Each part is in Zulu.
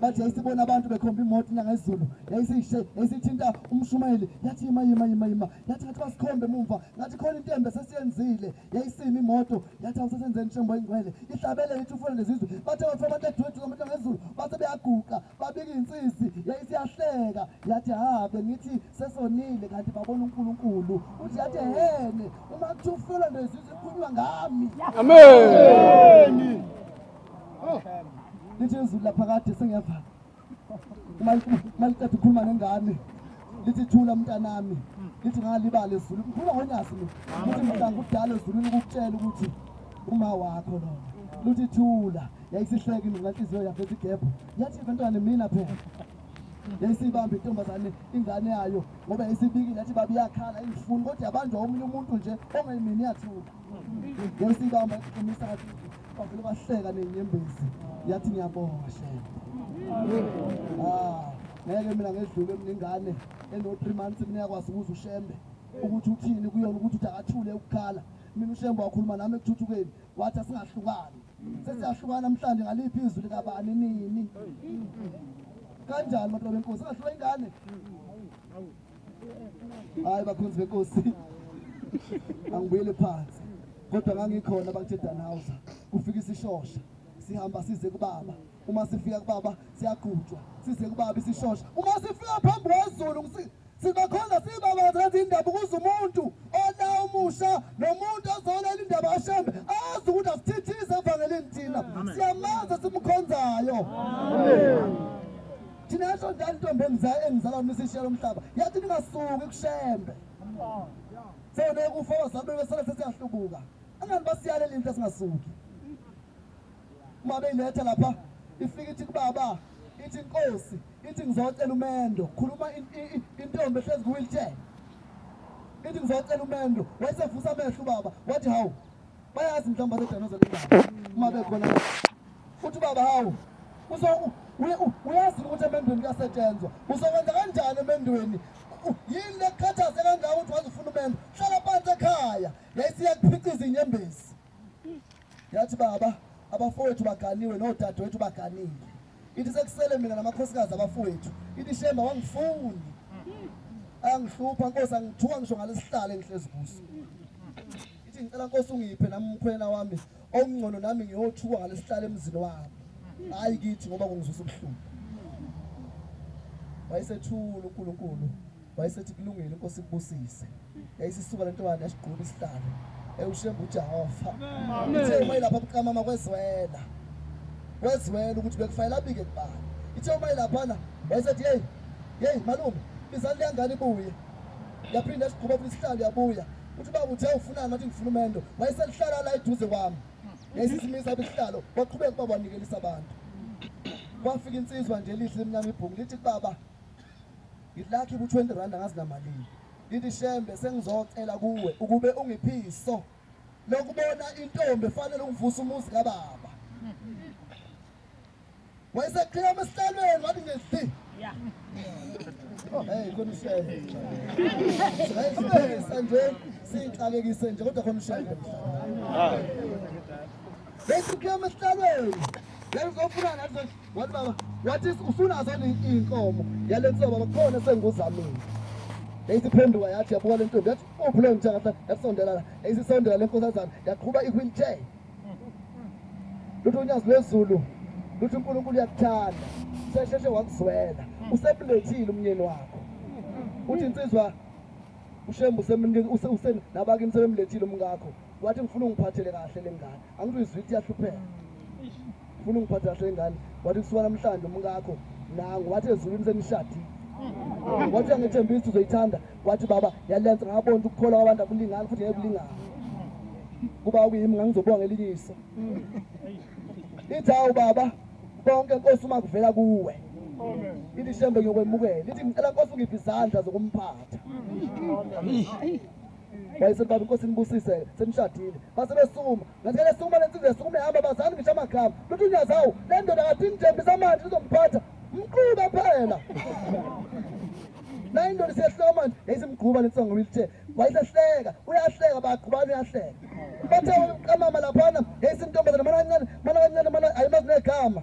bathi yayisibona abantu bekhomba imoto nangezulu yayisishe yayisithinta umshumayeli yathi yima yima yima yima yathi ngathi basikhombe mumva ngathi khona into embe sesiyenzile yayisima imoto yathi awusesenzeni inshembo ingcwele ihlabele ithi ufuna lezizwe bathe bathi abantu edwethu abantu nangezulu base beyaguqa babika insisi yayisiyahleka yathi ha bengithi sesonile kanti babona uNkulunkulu uthi yathi hene uma kuthi ufela nto ezizwe ikhulunywa ngami amen oh. lithi izulu laphakade sengiyavala maliqeda ukhuluma nengane lithi thula mntanami lithi ngalibala ezulu ngikhuluma ngonyasi mina ukuthi mhlanga kudala ezulwini ukukutshela ukuthi uma wakho lona luthi thula yayisihleki mina ngenhliziyo yakhe ethi gebho yathi bantwana mina phela yayisibambe intombazane ingane yayo ngoba yayisibikile yathi baba iyakhala ingifuni kodwa yabanjwa omunye umuntu nje ongayimini yathuka yayisibamba iqinisa kathi bavele bahleka nenyembezi yathi ngiyabonga shela ah, ngeke mina ngedlule mina ingane eno-three months mina yakwazi ukuza ushembe ukuthi uthini kuyona ukuthi uthi akathule ukukhala mina ushembe wakhuluma nami ekuthuthukeni wathi asingahlukani sesiyahlukana namhlanje ngaliphi izwi likabani nini kanjani madoda benkosi singahlula ingane hayi bakhonzi benkosi angibuyele phansi kodwa ngangikhona bakuthe danhausa kufika isishosha sihamba size kubaba uma sifika kubaba siyagujwa size kubaba isishosha uma sifika phambi kwezulu Sibakhonza sibabaza izindaba ukuze umuntu ona umusha nomuntu ozolela indaba ashembe azi ukuthi asithithize evangelini thina siyamazi simkhonzayo thina yasho njalo intombi engizala engizala mina sishiyela umhlaba yathi ningasuki kushembe sewoneke ufosa abeke sele sesiyahlubuka angani basiyalela into esingasuki uma beyinetha lapha ifika ithi kubaba ithi inkosi ithi ngizocela umendo khuluma intombi ehlezi kuwheelchair ithi ngizocela umendo wayesevusa amehlo ubaba wathi hawu bayazi mhlawumbe abedanozela indaba uma bekhona futhi ubaba hawu uyazi ukuthi emendweni kuyasetshenzwa uzokwenza kanjani emendweni yini lekukhathaze kangaka ukuthi waze ufuna umendo hlala phansi ekhaya yayisiya kuphica izinyembezi yathi baba abafowethu baganiwe nodadewethu baganile ithi sekusele mina namakhosikazi abafowethu ithi shemba wangifuni angihlupha nkosi angithuka ngisho ngalesihlalo engihlezi kuso ithi ngicela nkosi ungiphe nami umkhwena wami okungcono nami ngiyothuka ngalesihlalo emzini wami hhayi kithi ngoba kungizwisa ubuhlungu wayesethula unkulunkulu wayesethi kulungile inkosi kubusise yayisisuka le ntombane yasigquba isihlalo ewushemba ujehova ithe uma ilapha buqamama kwezwela kwezwela ukuthi bekufanele abike kubani ithe uma ilaphana wayesethi yeyi yeyi malume bizani liyangane ibuye yaphinde yasigquba futhi isihlalo yabuya uthi uba kuthe ufunani ngathi ngifuna umendo wayeselihlala la eduze kwami yayisisimisa bisihlalo waqhubeka uba wanikelisa abantu kwafika insizwa nje elihle emnyama ibhungu lithi kubaba Ngilakhi ku 20 rand angazi namalini. Ngithi shembe sengizocela kuwe ukube ungiphiso lokubona intombi efanele ukuvusa umuzi kababa. Wayeseqhila emsihlalweni wathi ngezi. Yeah. Oh hey konishele. Siyayisebenzisa nje siyixakekise nje kodwa konishele. Ah. Bese kuyama sihlalweni. Lengizofuna nathi wathi baba wathi usunazo iy'nkomo yale ntoba bakhona senguzamile yayisiphenduka yathi yabuka le ntombi yathi uphi leyo mthakahlala yasondela la yayisisondela le nkosazana yaqhuba i-wheelchair luthi unyazi lwezulu luthi unkulunkulu uyakuthanda sesheshe wakuzwela usemlethile umnyeni wakho uthi insizwa ushembu nabakini sebemlethile umkakho wathi ngifuna ungiphathele kahle le ngane angithi uyizwitha iyahlupheka ufuna ungiphathe kahle ingane wathi kusuka namhlanje umkakho nangu wathi ezulwini senishadile wathi angethembisa uzoyithanda wathi baba yalenza ngabona ukuthi ukukholwa kwabantu akulingani futhi ngekulingani kuba kuyimi ngangizobonga elinye iso ithi hawu baba konke nkosi uma kuvela kuwe ithi shembe ngiyokwemukela ithi ngicela nkosi ungiphe izandla zokumphatha wayesebaba inkosi nibusise senishadile basebesukuma Ngazele sukuma lensizwa yasukuma ihamba bazani ngisho amagama. Luthi unyazawu le ndoda ngathi ngithembisa manje izomphatha. Mqhuba phela. Nayi ndoda siyahleka manje yayisimgquba lensizwa ngoba ilithe wayesehleka uyahleka bagqubana uyahleka. Bathe uqamama laphana yayisintombazana mana kancane mana kancane mana ayimazi negama.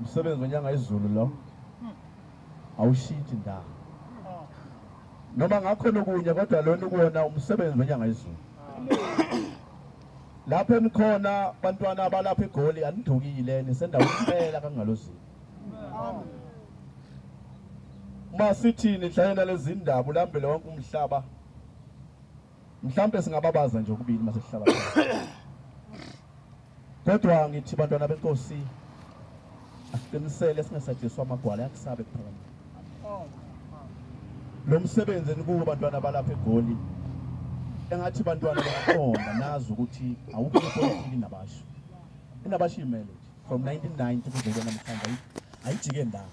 umsebenzi wenyanga izulu lo awushintshi ndawo noma ngakhona okunye kodwa lona ukuwona umsebenzi wenyanga izulu lapho enikhona bantwana abalapha egoli anidukile nisendaweni impela kangalozini uma sithini hlayena lezindaba ulambele wonke umhlaba Mhlambe singababaza nje ukubili mase sihlala. Kodwa ngithi bantwana benkosi asiqinisele singasajiswa amagwala yakusabe kuphakama. Lo msebenzi enikuwo bantwana balapha eGoli engathi bantwana baqonda nazi ukuthi awukho ipolitiki nabasho. Inabasho imele from 1990 kuzobona namhlanje ayijike ndawo.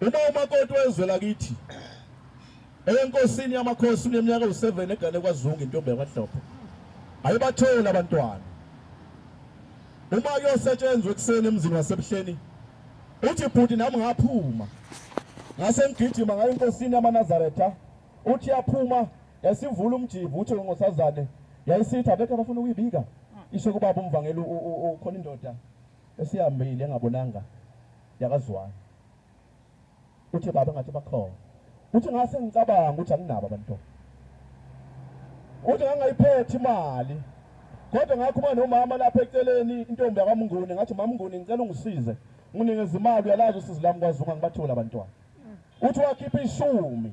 Uma umakoti wezwe lakithi enkosini yamakhosi uneminyaka ewu-7 egane kwazungu intombi yakwahlophe ayibatholi abantwana uma kuyosetshenzwa ekuseni emzini wasebuhleni uthi bhuti nami ngaphuma ngase ngigijima ngayo inkosini yamanazaretha uthi yaphuma yasivula umjivu uthi ngosazane yayisithi abekho abafuna ukuyibika isho kubaba umvangeli ukhona indoda esihambile engabonanga yakaZwane. Uthi baba ngathi bakhona. Uthi ngase ngicabanga ukuthi anginabo abantwana. Uthi ngangayiphethi imali. Kodwa ngakhuma nomama lapha eceleni intombi yakwamnguni ngathi mamnguni ngicela ungisize nginikeza imali uyalazi usizi lami kwazunga ngibathole abantwana. Uthi wakhipha ishumi.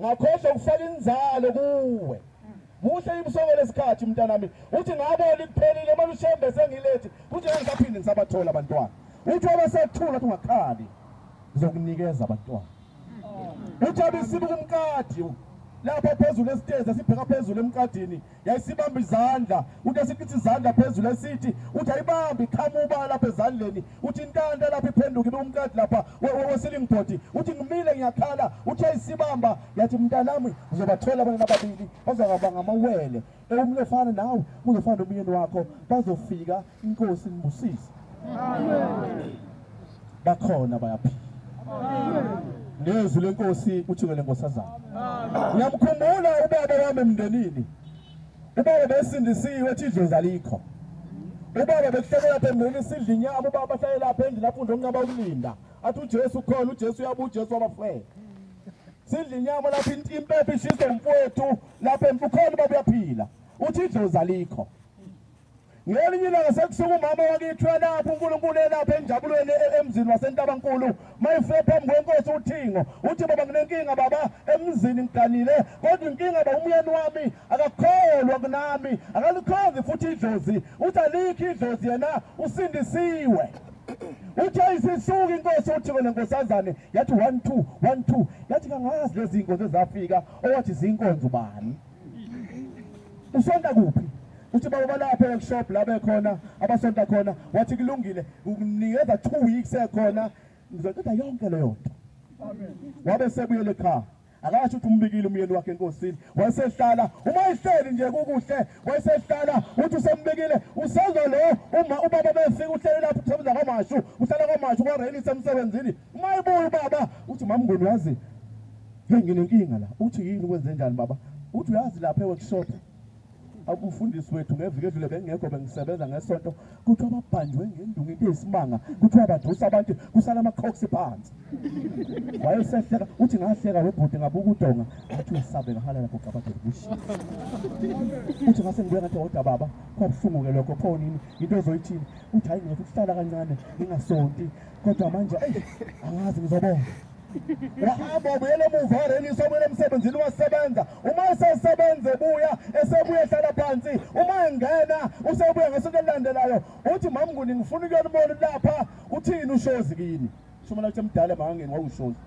ngakhohlwa ukufaka inzalo kuwe muhle ibusoko lesikhathi mntanami uthi ngabona ikuphelile uma lushembe sengilethi kuthi ngisaphinde ngisabathola abantwana uthi abasathula uthi ungakhali ngizokunikeza abantwana uthi abisibuka umkadi lapha phezulu esitezi asibheka phezulu emkadini yayisibamba izandla uthi esikithi izandla phezulu esithi uthi ayibambi iqhama ubala lapha ezandleni uthi intanda lapha iphenduke ibe umkadi lapha wesilingibhodi uthi ngimile ngiyakhala uthi ayisibamba yathi mntanami uzobathola abanye ababili bazakaba ngamawele ewumnye ofana nawe uzofana nomyeni wakho bazofika inkosi ngibusise amen bakhona bayaphila nezwi lenkosi uthukele nkosazana uyamkhumbula ubaba wami emndenini ubaba besindisiwe ethi idlozi alikho ubaba bekuhleke lapha emndenini sidla inyama ubaba ahlale lapha endlini afunde okunqaba ukulinda athi ujesu ukhona ujesu uyaba ujesu wabafela sidla inyama lapho impepha ishiswe mfowethu lapha ukhona ubaba uyaphila uthi idlozi alikho ngelinye ilanga sekusuka umama wakithi uyalapha unkulunkulu elapha enjabulweni e- e- emzini wasentabankulu mayifike phambi kwenkosi uthingo uthi baba nginenkinga baba emzini ngiganile kodwa inkinga ba umyeni wami akakholwa kunami akalikhonzi futhi idlozi uthi alikho idlozi yena usindisiwe uthe isisuka inkosi uthiko lenkosazane yathi one two one two yathi kangazi lezi nkonzo ezafika owathi zinkonzo bani usonta kuphi uthi baba balapha workshop la bekhona abasonta khona wathi kulungile ukunikeza 2 weeks ekhona ngizoqeda yonke leyo nto wabe sebuyele ekhaya akasho ukuthi umbikile umyeni wakhe enkosini wayesehlala uma ehleli nje kukuhle wayesehlala uthi usembikile usezwa lo uma ubaba befika uhlele lapho usebenza kwamashu uhlala kwamashu kwareli semsebenzini uma ebuya ubaba uthi mamnguni wazi hey nginenkinga la uthi yini kwenze njani baba uthi uyazi lapha eworkshop umfundisi wethu ngeviki edlule bengekho bengisebenza ngesonto kuthiwa babhanjwe ngendungu into eyisimanga kuthiwa badusa abantu kusala amaqhoksi phansi wayesehleka uthi ngahleka webhuti ngabuka udonga athi uyasabe ngahalela kogabadelibushi uthi ngase ngibuya ngathi woda baba kwabuhlungu-ke lokho pho nini yinto ezoyithini uthi hayi ngizothi ukuhlala kancane ngingasonti kodwa manje angazi ngizobona uhamba ubuyela emuva warelisha ubuyela emsebenzini wasebenza uma esesebenza ebuya esebuya ehlala phansi uma engena usebuya ngesinto elilandelayo uthi mamnguni ngifuna ukuyolibona lapha uthini ushozi kini shumela ukuthi emdala emangangeni wawushozi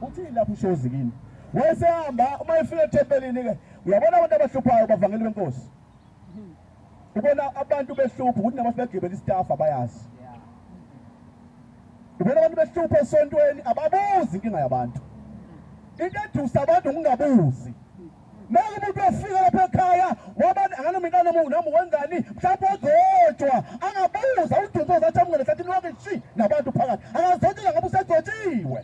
uthini lapha ushozi kini wayesehamba uma efika ethempelini-ke uyabona abantu abahluphayo bavangeli benkosi ubona abantu behlupha ukuthi nabantu begibela istaff abayazi ubona abantu behlupha esontweni ababuzi inkinga yabantu into edusa abantu ngingabuzi Noma umuntu ofika lapha ekhaya wabani anganoma intana mu noma wenzani mhlawumbe ozojwa angabuza udumbe uzathi amngene sathi lonke shi nabantu phakathi akazojela ngoba usejotshiwe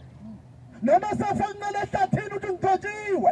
noma sefo kunqele ehlathini ukuthi ngijotshiwe